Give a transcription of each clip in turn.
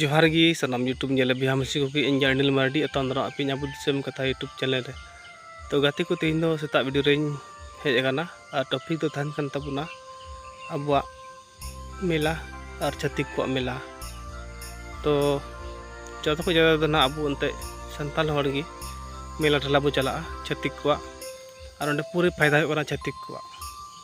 ᱡᱚᱦᱟᱨ ᱜᱮ ᱥᱟᱱᱟᱢ ᱤᱭᱩᱴᱩᱵᱽ ᱧᱮᱞᱮ ᱵᱤᱦᱟ ᱢᱤᱥᱤ ᱠᱚᱜᱮ ᱤᱧ ᱜᱮ ᱟᱹᱱᱤᱞ ᱢᱟᱨᱰᱤ ᱮᱛᱚᱢ ᱫᱟᱨᱟᱢ ᱟᱯᱮᱧ ᱟᱵᱚ ᱫᱤᱥᱚᱢ ᱠᱟᱛᱷᱟ ᱤᱭᱩᱴᱩᱵᱽ ᱪᱮᱱᱮᱞ ᱨᱮ ᱛᱚ ᱜᱟᱛᱮ ᱠᱚ ᱛᱮᱦᱮᱧ ᱫᱚ ᱥᱮᱛᱟᱜ ᱵᱷᱤᱰᱤᱭᱳ ᱨᱮᱧ ᱦᱮᱡ ᱟᱠᱟᱱᱟ ᱟᱨ ᱴᱚᱯᱤᱠ ᱫᱚ ᱛᱟᱦᱮᱱ ᱠᱟᱱ ᱛᱟᱵᱚᱱᱟ ᱟᱵᱚᱣᱟᱜ ᱢᱮᱞᱟ ᱟᱨ ᱪᱷᱟᱹᱛᱤᱠ ᱠᱚᱣᱟᱜ ᱢᱮᱞᱟ ᱛᱚ ᱡᱚᱛᱚ ᱠᱷᱚᱱ ᱡᱟᱫᱟ ᱫᱚ ᱱᱟᱦᱟᱜ ᱟᱵᱚ ᱮᱱᱛᱮ ᱥᱟᱱᱛᱟᱞ ᱦᱚᱲ ᱜᱮ ᱢᱮᱞᱟ ᱴᱷᱮᱞᱟ ᱵᱚ ᱪᱟᱞᱟᱜᱼᱟ ᱪᱷᱟᱹᱛᱤᱠ ᱠᱚᱣᱟᱜ ᱟᱨ ᱚᱸᱰᱮ ᱯᱩᱨᱟᱹ ᱯᱷᱟᱭᱫᱟ ᱦᱩᱭᱩᱜ ᱠᱟᱱᱟ ᱪᱷᱟᱹᱛᱤᱠ ᱠᱚᱣᱟᱜ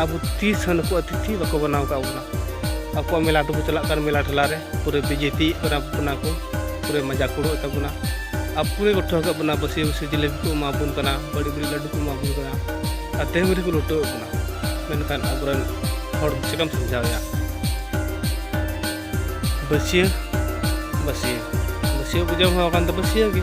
ᱟᱵᱚ ᱛᱤᱥ ᱦᱚᱸ ᱱᱩᱠᱩ ᱟᱛᱤᱛᱷᱤ ᱵᱟᱠᱚ ᱵᱮᱱᱟᱣ ᱟᱠᱟᱫ ᱵᱚᱱᱟ ᱟᱠᱚᱣᱟᱜ ᱢᱮᱞᱟ ᱫᱚᱠᱚ ᱪᱟᱞᱟᱜ ᱠᱟᱱ ᱢᱮᱞᱟ ᱴᱷᱮᱞᱟ ᱨᱮ ᱯᱩᱨᱟᱹ ᱵᱤᱡᱮᱯᱤ ᱠᱟᱱᱟ ᱵᱚᱱᱟ ᱠᱚ ᱯᱩᱨᱟᱹ ᱢᱟᱡᱟ ᱠᱩᱲᱩ ᱛᱟᱵᱚᱱᱟ ᱟᱨ ᱯᱩᱨᱟᱹ ᱠᱚ ᱴᱷᱟᱹᱣ ᱠᱟᱜ ᱵᱚᱱᱟ ᱵᱟᱹᱥᱤ ᱵᱟᱹᱥᱤ ᱡᱤᱞᱮᱵᱤ ᱠᱚ ᱮᱢᱟ ᱵᱚᱱ ᱠᱟᱱᱟ ᱵᱟᱹᱲᱤ ᱵᱟᱹᱲᱤ ᱞᱟᱹᱰᱩ ᱠᱚ ᱮᱢᱟ ᱵᱚᱱ ᱠᱟᱱᱟ ᱟᱨ ᱛᱮᱦᱮᱧ ᱨᱮᱠᱚ ᱞᱩᱴᱟᱹᱣ ᱵᱚᱱᱟ ᱢᱮᱱᱠᱷᱟᱱ ᱟᱵᱚᱨᱮᱱ ᱦᱚᱲ ᱪᱮᱠᱟᱢ ᱥᱟᱢᱡᱷᱟᱣᱮᱭᱟ ᱵᱟᱹᱥᱤᱭᱟᱹ ᱵᱟᱹᱥᱤᱭᱟᱹ ᱵᱟᱹᱥᱤᱭᱟᱹ ᱵᱩᱡᱷᱟᱹᱣ ᱦᱚᱸ ᱠᱟᱱ ᱫᱚ ᱵᱟᱹᱥᱤᱭᱟᱹ ᱜᱮ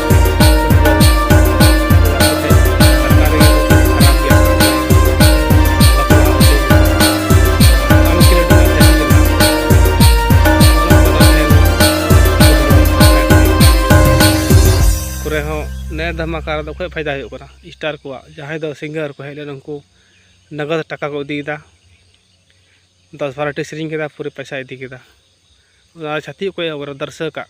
ᱱᱮ ᱫᱷᱟᱢᱟᱠᱟ ᱨᱮᱫᱚ ᱚᱠᱚᱭ ᱯᱷᱟᱭᱫᱟ ᱦᱩᱭᱩᱜ ᱠᱟᱱᱟ ᱥᱴᱟᱨ ᱠᱚᱣᱟᱜ ᱡᱟᱦᱟᱸᱭ ᱫᱚ ᱥᱤᱝᱜᱟᱨ ᱠᱚ ᱦᱮᱡ ᱞᱮᱱ ᱩᱱᱠᱩ ᱱᱟᱜᱚᱫ ᱴᱟᱠᱟ ᱠᱚ ᱤᱫᱤᱭᱮᱫᱟ ᱫᱚᱥ ᱵᱟᱨᱚᱴᱤ ᱥᱮᱨᱮᱧ ᱠᱮᱫᱟ ᱯᱩᱨᱟᱹ ᱯᱚᱭᱥᱟ ᱤᱫᱤ ᱠᱮᱫᱟ ᱚᱱᱟ ᱪᱷᱟᱹᱛᱤᱠ ᱚᱠᱚᱭ ᱟᱵᱚ ᱫᱚᱨᱥᱚᱠᱟᱜ